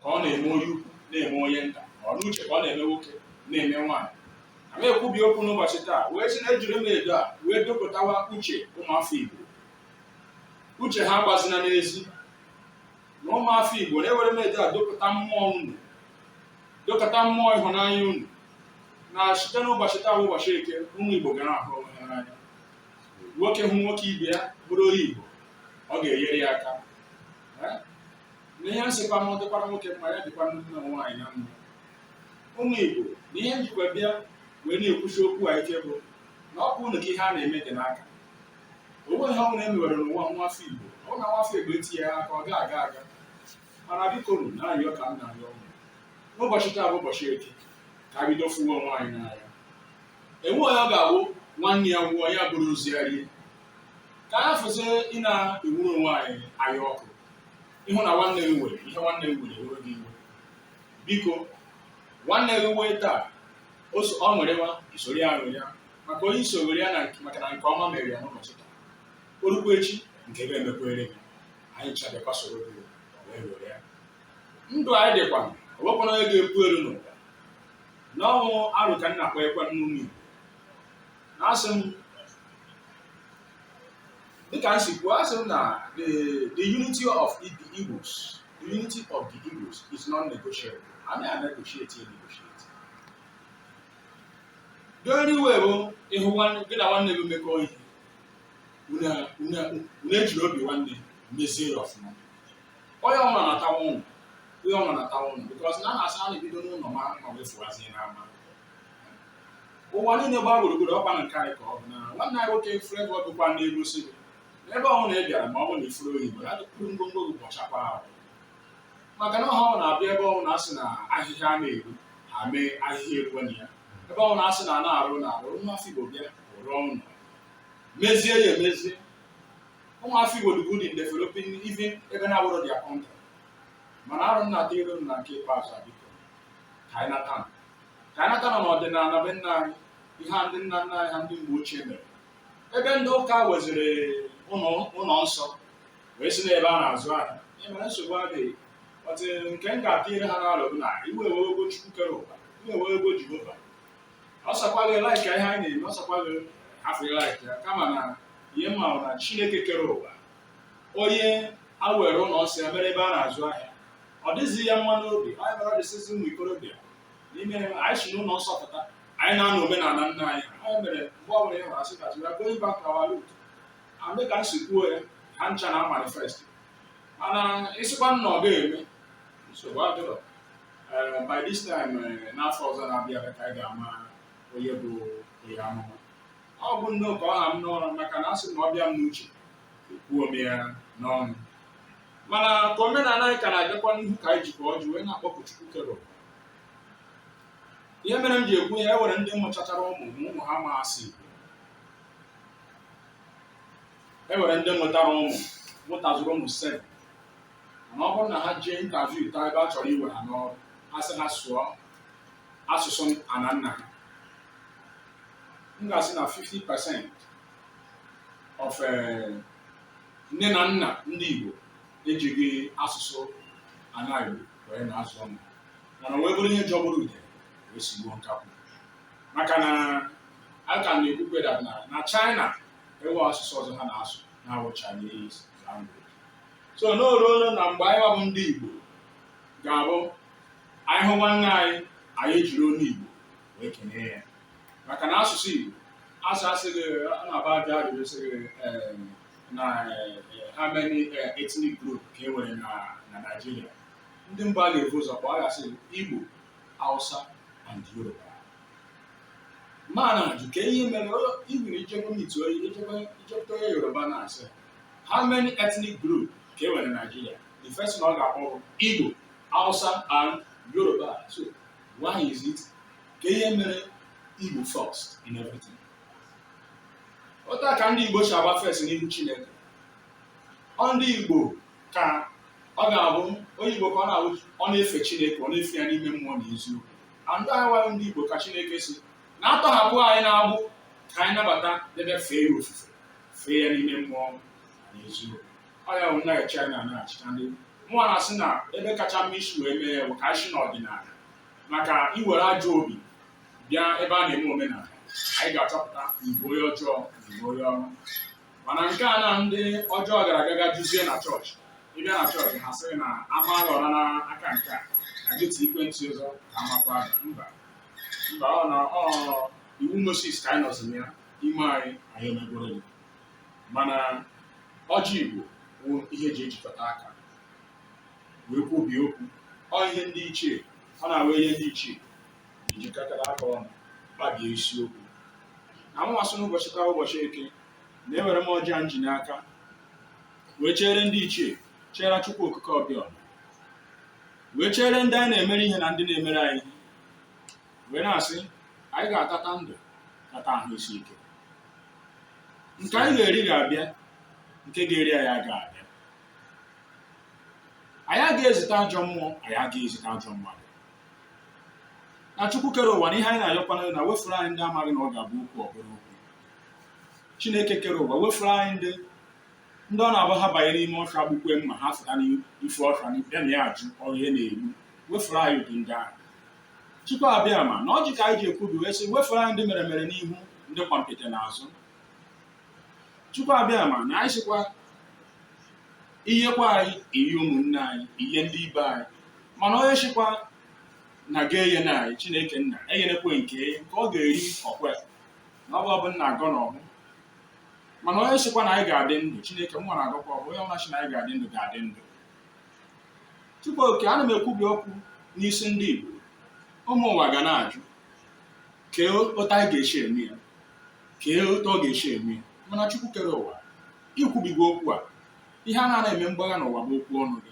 ka ọ na-eme onye ukwu na-eme onye nta ọ n'uche ka ọ na-eme nwoke na-eme nwaanyị a ma ekwubi okwu n'ụbọchị taa wee sị na ejiri m edo a wee dopụtawa uche ụmụafọ Igbo uche ha gbazina n'ezi na ụmụafọ Igbo na ewere m edo a dopụta mmụọ unu dopụta mmụọ ịhụnanya unu na site n'ụbọchị taa ụbọchị eke ụmụ Igbo ga na-ahụ onwe ha n'anya nwoke hụ nwoke ibe ya bụrụ onye Igbo ọ ga-enyere ya aka na ihe nsịkwa m dịkwara nwoke mma ya dịkwa ndị na nwaanyị na mma ụmụ Igbo na ihe m jikwa bịa wee na-ekwusi okwu a ike bụ na ọ bụ unu ka ihe a na-eme dị n'aka o nwe ihe ọbụla e mewere n'ụwa nwafọ Igbo ọ na nwafọ Igbo etinye ya aka ọ ga-aga aga mana bikonu na-arịọ ka m na-arịọ unu n'ụbọchị taa bụ ụbọchị eke ka a bido fụwa onwe anyị n'anya enwe onye ọ ga-awụ nwanne ya nwụọ ya buru ozu ya rie ka a kwụsị ịna-ewuru onwe anyị anya ọkụ ị hụ na nwanne gị nwere ihe nwanne gị nwere ewe gị iwe biko nwanne gị nwee taa o so- ọ ṅụrịwa i soro ya ṅụrịa maka onye i so ṅụrịa na nke- maka na nke ọma mere ya n'ụbọchị taa o lukwa echi nke gị emekwere gị anyị cha abịakwa soro gị wee ṅụrịa ndụ anyị dịkwa o nwekwana onye ga-epu elu n'ụwa n'ọnwụ arụ ka nna kpọ ekwe n'ụmụ Igbo na asị m dịka m si kwuo asị m na the the unity of the Igbos the unity of the Igbos is non-negotiable anyị a negotiate ya negotiate the only way bụ ị hụ nwanne- gị na nwanne gị mekọọ ihe unu unu- unu ejiri obi nwanne mezie ya ọfụma onye ọbụla na-atawa ụnụ onye ọbụla na-atawa ụnụ because na a na-asị a na-ebido n'ụlọ maa mma wee fụazie n'ama ụwa niile gbaa gburugburu ọ kwa na nke anyị ka ọ bụ na nwanne anyị nwoke Flavour ọ gụkwa n'egwu sị ebe ọwụna ị bịara ma ọ bụ na ị fụrọ onye Igbo na adụkpụrụ ngwongwo gị bọchakwa ahụ maka na ọ ha na-abịa ebe ọwụna a sị na ahịhịa a na-eru ha mee ahịhịa eruwe na ya ebe ọwụna a sị na a na-arụ na arụ nwa afọ Igbo bịa rụọ ụlọ mezie ya emezie ụmụ afọ Igbo dị good in developing even ebe na-awụrọ their country mana arụ nna dị iru na nke ikpeazụ biko ka anyị nata ụnọ n'ọdịnala be nna anyị ihe a ndị nna nna anyị ha ndị mgbe ochie mere ebe ndị ụka weziri ụlọ ụlọ nsọ wee si n'ebe a na-azụ ahịa ihe mere nsogbu adịghị but nke m ga-atụ ire ha n'alụ bụ na iwe ewego chukwu kere ụwa iwe ewego jehova ọ sọkwa gị like ihe anyị na-eme ọ sọkwa gị hafụ like ya kama na ihe m ma bụ na chineke kere ụwa onye a were ụlọ nsọ ya mere ebe a na-azụ ahịa ọ dịghịzi ya mma n'obi ọ ya mere dịsịzi ụmụ ikorobịa n'ime anyị si n'ụlọ nsọ pụta anyị naa n'omenala nna anyị ọ ya mere mgbe ọbụla ị hụrụ a sị cultural going back to our root adị ka m si kwuo ya ha ncha na-amanifest mana ị sịkwa na ọ ga-eme nsogbu adịrọ Eh, by this time eh, n'afọ ọzọ na-abịa ka anyị ga-ama onye bụ onye amụma ọ bụ nnọọ ka ọ ha m n'ọnụ maka na asị na ọ bịa m n'uche ekwuo m ya n'ọnụ mana ka omenala anyị ka na-agakwa n'ihu ka anyị jikwa ọjị wee na-akpọku Chukwu kere ụwa. ihe mere m ji ekwu ya e nwere ndị mụchachara ụmụ ma ụmụ ha ama asụ Igbo e nwere ndị mụtara ụmụ mụtazuru ụmụ seven mana ọ bụrụ na ha jee interview taa ebe a chọrọ iwe ha n'ọrụ ha sị ha sụọ asụsụ ana nna ha m ga-asị na 50 percent of eh, nne na nna ndị Igbo ejighị asụsụ ana Igbo wee na-azụ ụmụ mana wee bụrụ ihe jọgburu udele wee sigbuo nkakwụ maka na a ka na-ekwukwe that na na China enwe asụsụ ọzọ ha na-asụ na-awụ Chinese language so n'oruolu na mgbe anyị bụ ndị Igbo ga-abụ anyị hụ nwanne anyị anyị ejiri olu Igbo wee kenee ya maka na asụsụ Igbo asụ a sị gị a na-abịa ajụ ajụjụ sị gị eh, na eh, how many eh, ethnic group ka e nwere na na Naịjirịa ndị mbụ a ga-ebu ụzọ kpọọ aha sị Igbo Hausa and Yoruba mana ajụ kee ihe mere onye- even i jekwa meet onye i jekwa i jekwa onye Yoruba na-asị how many ethnic group ka e nwere na Naịjirịa the first one ọ ga-akpọ bụ Igbo Hausa and Yoruba so Why is it kee ihe mere Igbo first in everything? Otu a ka ndị Igbo si awụ first n'ihu Chineke. Ọ ndị Igbo ka ọ ga-abụ onye Igbo ka ọ na-abụ ọ na-efe Chineke ọ na-efe ya n'ime mmụọ na eziokwu. And anyị nwa ndị Igbo ka Chineke sị na a tọhapụ anyị n'agbụ ka anyị nabata debe fee ya ofufe fee ya n'ime mmụọ na eziokwu. ọ ya bụ na China na-achịcha ndị mụnwa na-asị na ebe kacha mma isi wee mee ya bụ ka anyị si n'ọdịnala maka i were ajọ obi bịa ebe a na-eme omenala anyị ga-achọpụta ị bụ onye ọjọọ na ị bụ onye ọma mana nke a na ndị ọjọọ gara aga ga juzie na chọọchị ị bịa na chọọchị ha sịrị na a maa gị ụra na aka nke a na gị tụekwe nti ọzọ ka a makwa gị. mba mba ọ na ọ iwu Moses ka anyị nọziri ya i mee anyị anyị emegworo gị mana ọjị Igbo bụ ihe e ji ejikọta aka wee kwubie okwu ọ ihe ndị ichie ọ na-awa ihe ndị ichie ejikọtara aka ọnụ kpabie isiokwu na mụwa sị n'ụbọchị taa ụbọchị eke na ewere m ọjị m ji n'aka wee chere ndị ichie chere Chukwu Okike Abịama wee chere ndị anyị na-emere ihe na ndị na-emere anyị wee na-asị anyị ga-atata ndụ tata ahụ isi ike nke anyị ga-eri ga-abịa nke ga-eri anyị aga abịa anyị agaghị ezite ajọ mmụọ anyị agaghị ezite ajọ mmadụ na chukwu kere ụwa na ihe anyị na-ayọkwanụ na wefuru anyị ndị amaghị na ọ ga-abụ okwu ọ bụrụ okwu chineke kere ụwa wefuru anyị ndị ndị ọ na-abụ ha banye n'ime ọfịa gbukwe mma ha fụta n'ife ọfịa bịa na ya ajụ onye na-egbu wefuru anyị ụdị ndị ahụ Chukwu Abịama na ọjị ka anyị ji ekwubi wee sị wefuru anyị ndị meremere n'ihu ndị kwompiti n'azụ Chukwu Abịama na anyị sịkwa i yekwa anyị i ye ụmụnne anyị i ye ndị ibe anyị mana onye sịkwa na a ga-eye na anyị Chineke nna enyenekwe nke nke ọ ga-eri ọ kwa na ọ bụ ọfọ m na-agọ na ọbụ mana onye sịkwa na anyị ga-adị ndụ Chineke mụwa na-agọkwa ọfọ onye ọbụna sị na anyị ga-adị ndụ ga-adị ndụ Chukwu Okike ana m ekwubi okwu n'isi ndị Igbo ụmụ ụwa ga na-ajụ kee otu anyị ga-esi eme ya kee otu ọ ga-esi eme ya mana Chukwu kere ụwa i kwubigo okwu a ihe a na-ana eme mgbagha n'ụwa bụ okwu ọnụ gị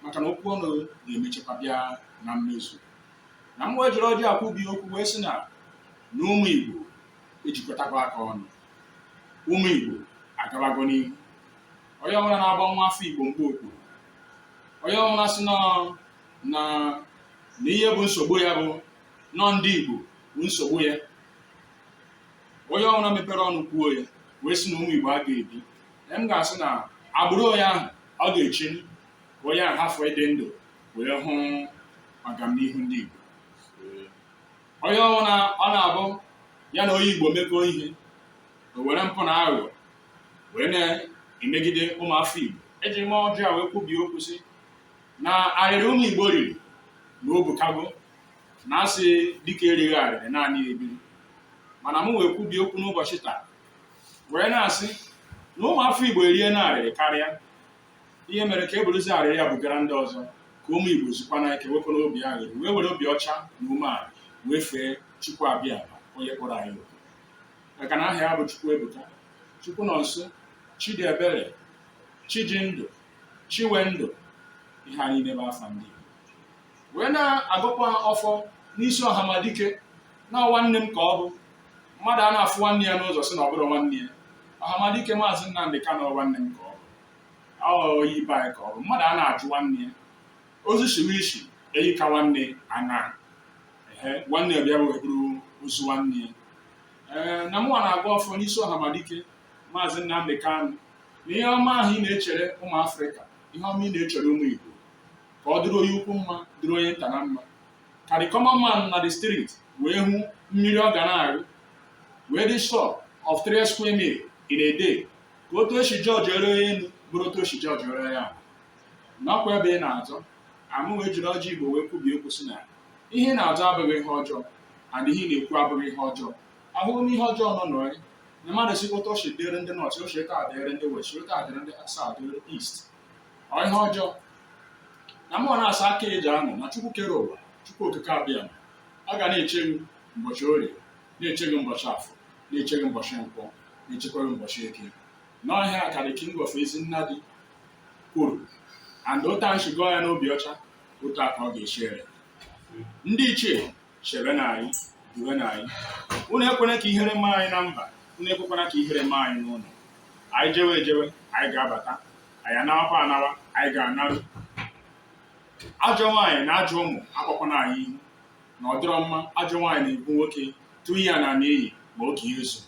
maka na okwu ọnụ gị ga-emechekwa bịa na mmezu na m wee jiri ọjị a kwubie okwu wee sị na na ụmụ Igbo ejikọtago aka ọnụ ụmụ Igbo agabago n'ihu onye ọbụla na-agba nwa afọ Igbo mgba okpuru onye ọbụla sị na na na ihe bụ nsogbu ya bụ na ọ ndị Igbo bụ nsogbu ya onye ọbụla mepere ọnụ kwuo ya wee sị na ụmụ Igbo aga ebi na m ga-asị na agbụrụ onye ahụ ọ ga-echi ka onye ahụ hafụ ịdị ndụ wee hụ agamnihu ndị Igbo onye ọbụla ọ na-abụ ya na onye Igbo mekọọ ihe o were mpụ na aghụghọ wee na-emegide ụmụafọ Igbo eji m ọjị a wee kwubie okwu sị na arịrị ụmụ Igbo riri na o bukago na a sị dike erighị arịrị ọ naghị ebiri mana m wee kwubie okwu n'ụbọchị taa wee na-asị na ụmụafọ Igbo eriena arịrị karịa ihe mere ka e buruzi arịrị ya bugara ndị ọzọ ka ụmụ Igbo zukwanụ ike wepụ n'obi arịrị wee were obi ọcha na umeala wee fee Chukwu Abịama onye kpụrụ anyị maka na aha ya bụ Chukwuebuka Chukwunonso Chidiebere Chijindụ Chiwendụ ihe anyị n'ebe afa ndị Igbo wee na-agọkwa ọfọ n'isi ọhamadike na nwanne m ka ọ bụ mmadụ a na-afụ nwanne ya n'ụzọ sị na ọ bụrọ nwanne ya ọhamadike maazị Nnamdị Kanụ nwanne m ka ọ bụ onye be anyị ka ọ bụ mmadụ a na-ajụ nwanne ya ozu shiwe isi enyi ka nwanne anaa ehe nwanne ya bịa wee buru ozu nwanne ya ee na mụnwa na-agọ ọfọ n'isi ọhamadike maazị Nnamdi Kanu na ihe ọma ahụ ị na-echere ụmụ afrịka ihe ọma ị na-echere ụmụ igbo ka ọ dịrị onye ukwu mma dịrị onye nta na mma ka the common man na the street wee hụ mmiri ọ ga na-arụ wee dị sure of three square meal in a day ka otu e si judge ere onye elu bụrụ otu e si judge ere onye ahụ nakwa ebe ị na-azọ a mụ wee jiri ọjị igbo wee kwubie okwu sị na ihe ị na-azọ abụghị ihe ọjọọ and ihe ị na-ekwu abụghị ihe ọjọọ ahụghị m ihe ọjọọ nọ n'ọya na mmadụ sị otu o si dịrị ndị north o si otu a dịrị ndị west otu a dịrị ndị south dịrị east ọ ihe ọjọọ na mụ na-asa aka eji anọ na chukwu kere ụwa chukwu okike abịama ga na-eche gị ụbọchị orie na-eche gị ụbọchị afọ na-eche gị ụbọchị nkwọ na-echekwa gị ụbọchị eke na ọ ihe a ka the king of ezi nna dị kwuru and otu anyị si gọọ ya n'obi ọcha otu a ka ọ ga-esi ere ndị ichie chebenụ anyị duwenụ anyị unu ekwena ka ihere mee anyị na mba unu ekwekwana ka ihere mee anyị n'ụlọ anyị jewe ejewe anyị ga-abata anyị anawakwa anawa anyị ga-anaru ajọ nwaanyị na ajọ ụmụ akpọkwana anyị ihu na ọ dịrọ mma ajọ nwaanyị na-ebu nwoke tụọ ya na n'iyi ma oge ya ezu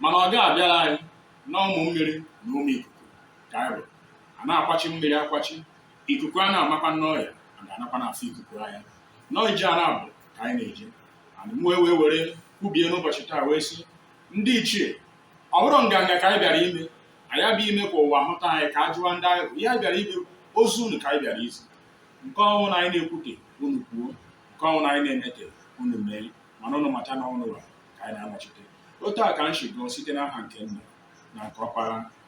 mana ọ ga-abịara anyị na ụmụ mmiri na ụmụ ikuku ka anyị bụ a na-akwachi mmiri akwachi ikuku a na-amakwa n'ọya a ga-anakwa n'afọ ikuku anya nọọ ije a na-abụ ka anyị na-eje and mụ wee were kwubie n'ụbọchị taa wee sị ndị ichie ọ bụrọ nganga ka anyị bịara ime anyị abịa ime ka ụwa hụta anyị ka a jụwa ndị anyị bụ ihe anyị bịara ime ozi unu ka anyị bịara izi nke ọ wụna anyị na-ekwute unu kwuo nke ọ wụna anyị na-emete unu mee mana unu mata na ọ unuwa ka anyị na-anọchite otu a ka m si gọọ site n'aha nke nna na nke ọkpara